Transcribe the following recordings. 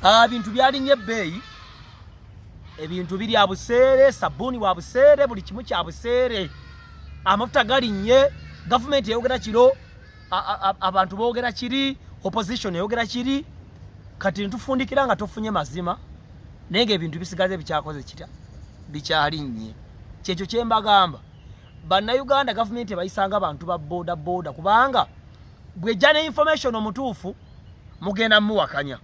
Ah, bintu byalinye ebbeeyi ebintu biri abuseere sabbuuni wa buseere buli kimu kya buseere amafuta galinnye gavumenti eyogera kiro abantu boogera kiri opposition eyogera kiri kati netufundikira nga tofunye mazima naye nga ebintu bisigaze bikyakoze kitya bikyalinnye kyekyo kyembagamba bannayuganda gavumenti ebayisanga abantu ba boda boda kubanga bwejja ne information omutuufu mugenda muwakanya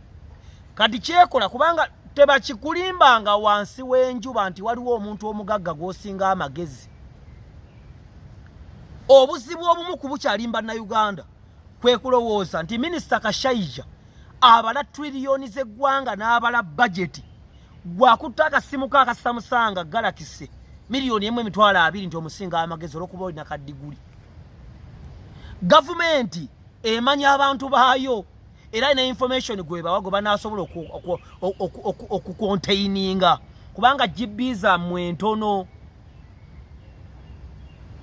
kati kyekola kubanga tebakikulimbanga wansi w'enjuba nti waliwo omuntu omugagga gw'osinga amagezi obuzibu obumu ku bukyalimba na uganda kwe kulowooza nti minisita kashaija abala triliyoni z'eggwanga n'abala bajeti gwakutta akasimuko akasamusanga galakise miliyoni emu emitwalo abiri nti omusinga amagezi olwokuba olina kadiguli gavumenti emanya abantu baayo era ina information gwebawa gwe banasobola okukontaininga kubanga gb zammwe ntono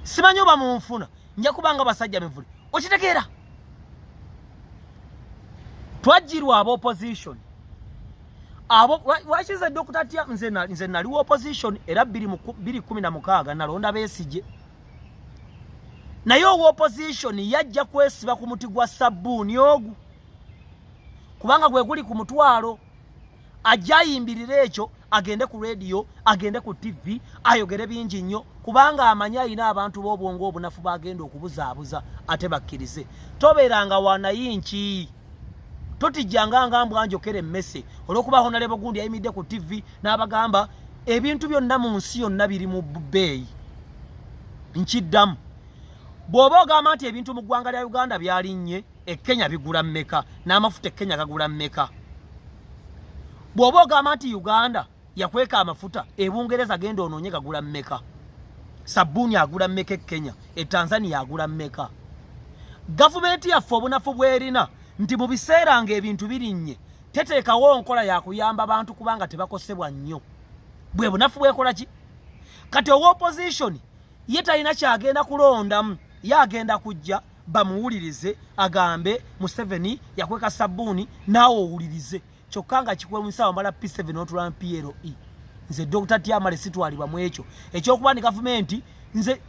simanyi oba munfuna nja kubanga basajja mivule okitegeera twajjirwa aba opposition abo wakiza dokita tya nze naliwo opposition era biri kumi na mukaaga nalonda besigye naye owa opposition yajja kwesiba ku muti gwa sabbuuni ogu kubanga gwe guli ku mutwalo ajja ayimbirira ekyo agende ku rediyo agende ku ttivi ayogere bingi nnyo kubanga amanyi alina abantu b'obwongo obunafu bagenda okubuzaabuza ate bakkirize tobeeranga wanayinki totijjanga nga mbwa njokera emmese olwokuba honalebo gundi yayimidde ku ttivi n'abagamba ebintu byonna mu nsi yonna biri mu bbeeyi nkiddamu bw'oba ogamba nti ebintu mu ggwanga lya uganda byalinnye e kenya bigula mmeka n'amafuta e kenya gagula mmeka bw'oba ogamba nti uganda yakweka amafuta ebungereza genda onoonye gagula mmeka sabbuuni agula mmeka e kenya e tanzania agula mmeka gavumenti yaffe obunafu bwerina nti mu biseera nga ebintu birinnye teteekawo nkola yakuyamba bantu kubanga tebakosebwa nnyo bwe bunafu bwekola ki kati owa opozisioni ye talina kyagenda kulondamu ye agenda kujja bamuwulirize agambe museveni yakweka sabbuuni naawe owulirize kyokka nga kikwewunyisa wamala p7 n'otulana ple nze dr tiamale sitwalibwa mu ekyo ekyokuba ni gavumenti nze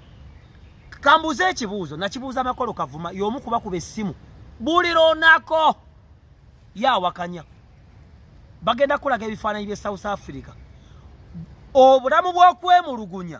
kambuuza ekibuuzo nakibuuza amakolo kavuma y'omu kuba kuba essimu buli lonako yawakanya bagenda kulaga ebifaananyi bye south africa obulamu bw'okwemulugunya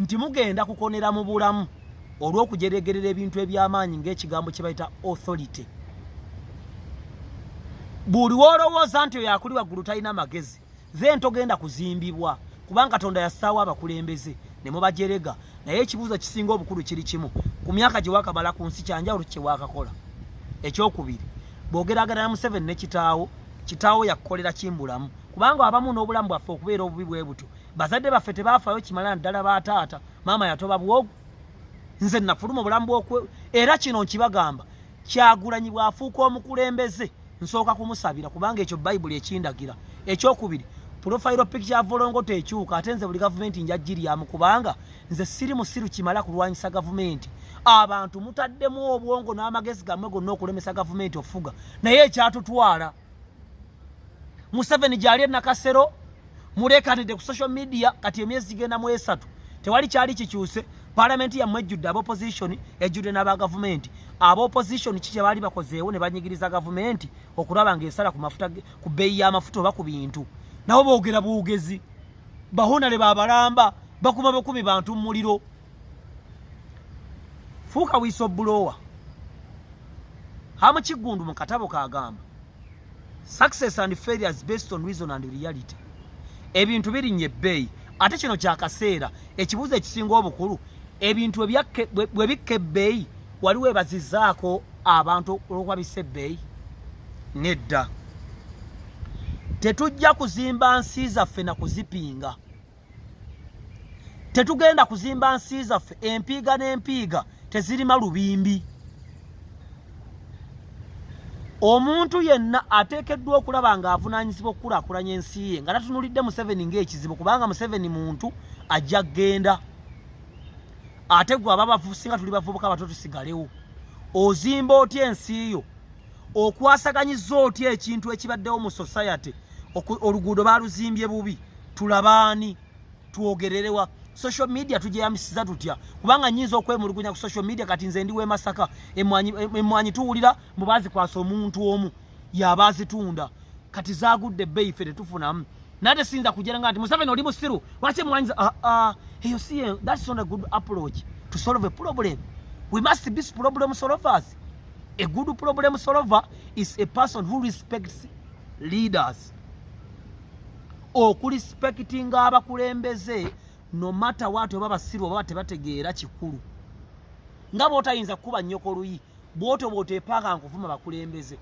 nti mugenda kukonera mu bulamu olw'okujeregerera ebintu eby'amaanyi ng'ekigambo kye bayita authority buli wolowooza nti oyo akuli waggulu talina magezi then togenda kuzimbibwa kubanga katonda yassaawo abakulembeze ne mubajerega naye ekibuuzo kisinga obukulu kiri kimu ku myaka gye wakamala ku nsi kyanjawulo kye wakakola ekyokubiri bwogeragana na museveni ne kitaawo kitaawo yakukolera kimbulamu kubanga abamu n'obulamu bwaffe okubeera obubi bwe butyo bazadde baffe tebaafayo kimala naddala ba taata maama yatoba bwogu nze nafuluma obulamu bwokwe era kino nkibagamba kyagulanyi bwafuuka omukulembeze nsooka kumusabira kubanga ekyo bayibuli ekindagira ekyokubiri pulofayiro piki ya volongoto ekyuka ate nze buli gavumenti njajjiryamu kubanga nze siri musiru kimala kulwanyisa gavumenti abantu mutaddemu obwongo n'amagezi gammwe gonna okulemesa gavumenti ofuga naye ekyatutwala museveni gyali enakasero mulekanidde ku social media kati emyezi gigenda mu esatu tewali kyali kikyuse palamenti yammwe ejjudde aba opposition ejjudde n'aba gavumenti aba opposition ki kyebaali bakozeewo ne banyigiriza gavumenti okulaba nga esala ku mafuta ku bbeeyi y'amafuta oba ku bintu nabo boogera bwogezi bahonale babalamba bakuma bukumi bantu muliro fuuka wiisa obulowa hamukiggundu mu katabo kagamba success and failures based on reason and reality ebintu birinnya ebbeeyi ate kino kyakaseera ekibuuzo ekisinga obukulu ebintu bwe bikka ebbeeyi wali webazizaako abantu olwokuba bissa ebbeeyi nedda tetujja kuzimba nsi zaffe na kuzipinga tetugenda kuzimba nsi zaffe empiiga n'empiiga tezirima lubimbi omuntu yenna ateekeddwa okulaba ng'avunaanyizibwa okukulakulanya ensi ye nga tatunulidde museveni ng'ekizibu kubanga museveni muntu ajja kgenda ate gwe ababavusinga tuli bavubuka bato tusigalewo ozimba otya ensi yo okwasaganyiza otya ekintu ekibaddewo mu society oluguudo baluzimbye bubi tulabaani twogererewa social media tujeyamisiza tutya kubanga nyinza okwemulugunya ku social media kati nze ndi wemasaka emwanyi tuwulira mbu bazikwasa omuntu omu yaba azitunda kati zagudde ebbeyi fe tetufunamu nate siyinza kugera nga nti museveni oli musiru lwaki emwanyi ah, ah, eyo si that's not a good approach to solve a problem we must be problem solvers A good problem solver is a person who respects leaders. Okurespectinga abakulembeze no matter what oba basiru oba tebategeera kikulu. Nga botayinza kuba nyoko luyi, boto bote paka nkuvuma bakulembeze.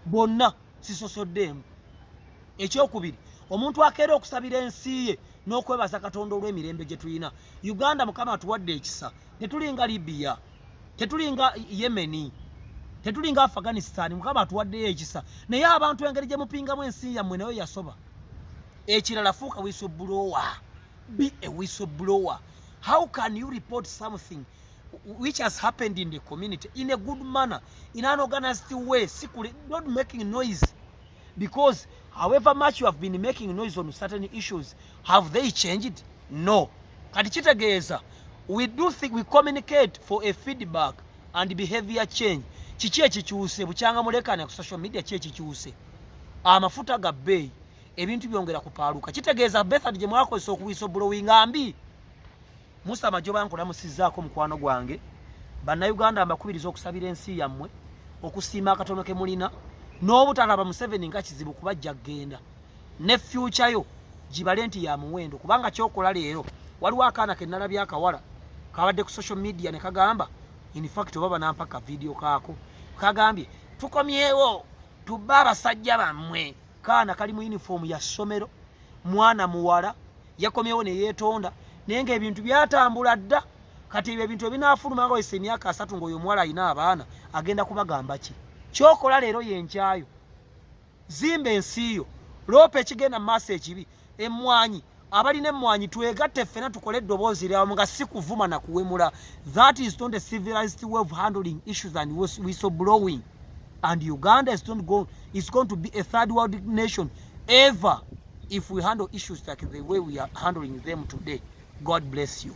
Bonna sisosoddemu. Ekyokubiri, omuntu akeera okusabira ensi ye n'okwebaza Katonda olw'emirembe gye tulina. Uganda Mukama atuwadde ekisa. tetulinga Libya tetulinga Yemeni tetulinga Afghanistan mukama atuwaddeyo ekisa naye abantu engeri gye mupingamu ensi yammwe nayo yasoba ekirala fuuka wisobuloowa be a whistleblower how can you report something which has happened in the community in a good manner in an organized way secretly not making noise because however much you have been making noise on certain issues have they changed no kati kitegeeza we do think we communicate for a feedback and behavior change kiki ekikyuse bukyanga mulekane ku social media ki ekikyuse amafuta ga bbeeyi ebintu byongera kupaaluka kitegeeza bethad gye mwakozesa okuwisa obulowi nga mbi Musa Majoba nkulamusizzaako mukwano gwange bannayuganda mbakubiriza okusabira ensi yammwe okusiima akatono ke mulina n'obutalaba museveni nga kizibu kuba ajja kugenda ne fyuca yo gibale nti ya muwendo kubanga kyokola leero waliwo akaana ke nnalabya akawala kabadde ku social media ne kagamba infact oba banampaka vidiyo kaako kagambye tukomyewo tubba abasajja bammwe kaana kali mu yunifoomu ya ssomero mwana muwala yakomyewo ne yeetonda naye ng'ebintu byatambula dda kati ebyo ebintu ebinaafuluma nga wesa emyaka asatu ng'oyo omuwala alina abaana agenda kubagamba ki kyokola leero yenkyayo zimba ensi yo loopa ekigenda mu maaso ekibi emmwanyi abalina emmwanyi twegatte ffena tukole eddoboozi lyawamu nga si kuvuma na kuwemula that is not a civilized way of handling issues and whistle blowing and uganda is, not go, is going to be a third world nation ever if we handle issues like the way we are handling them today god bless you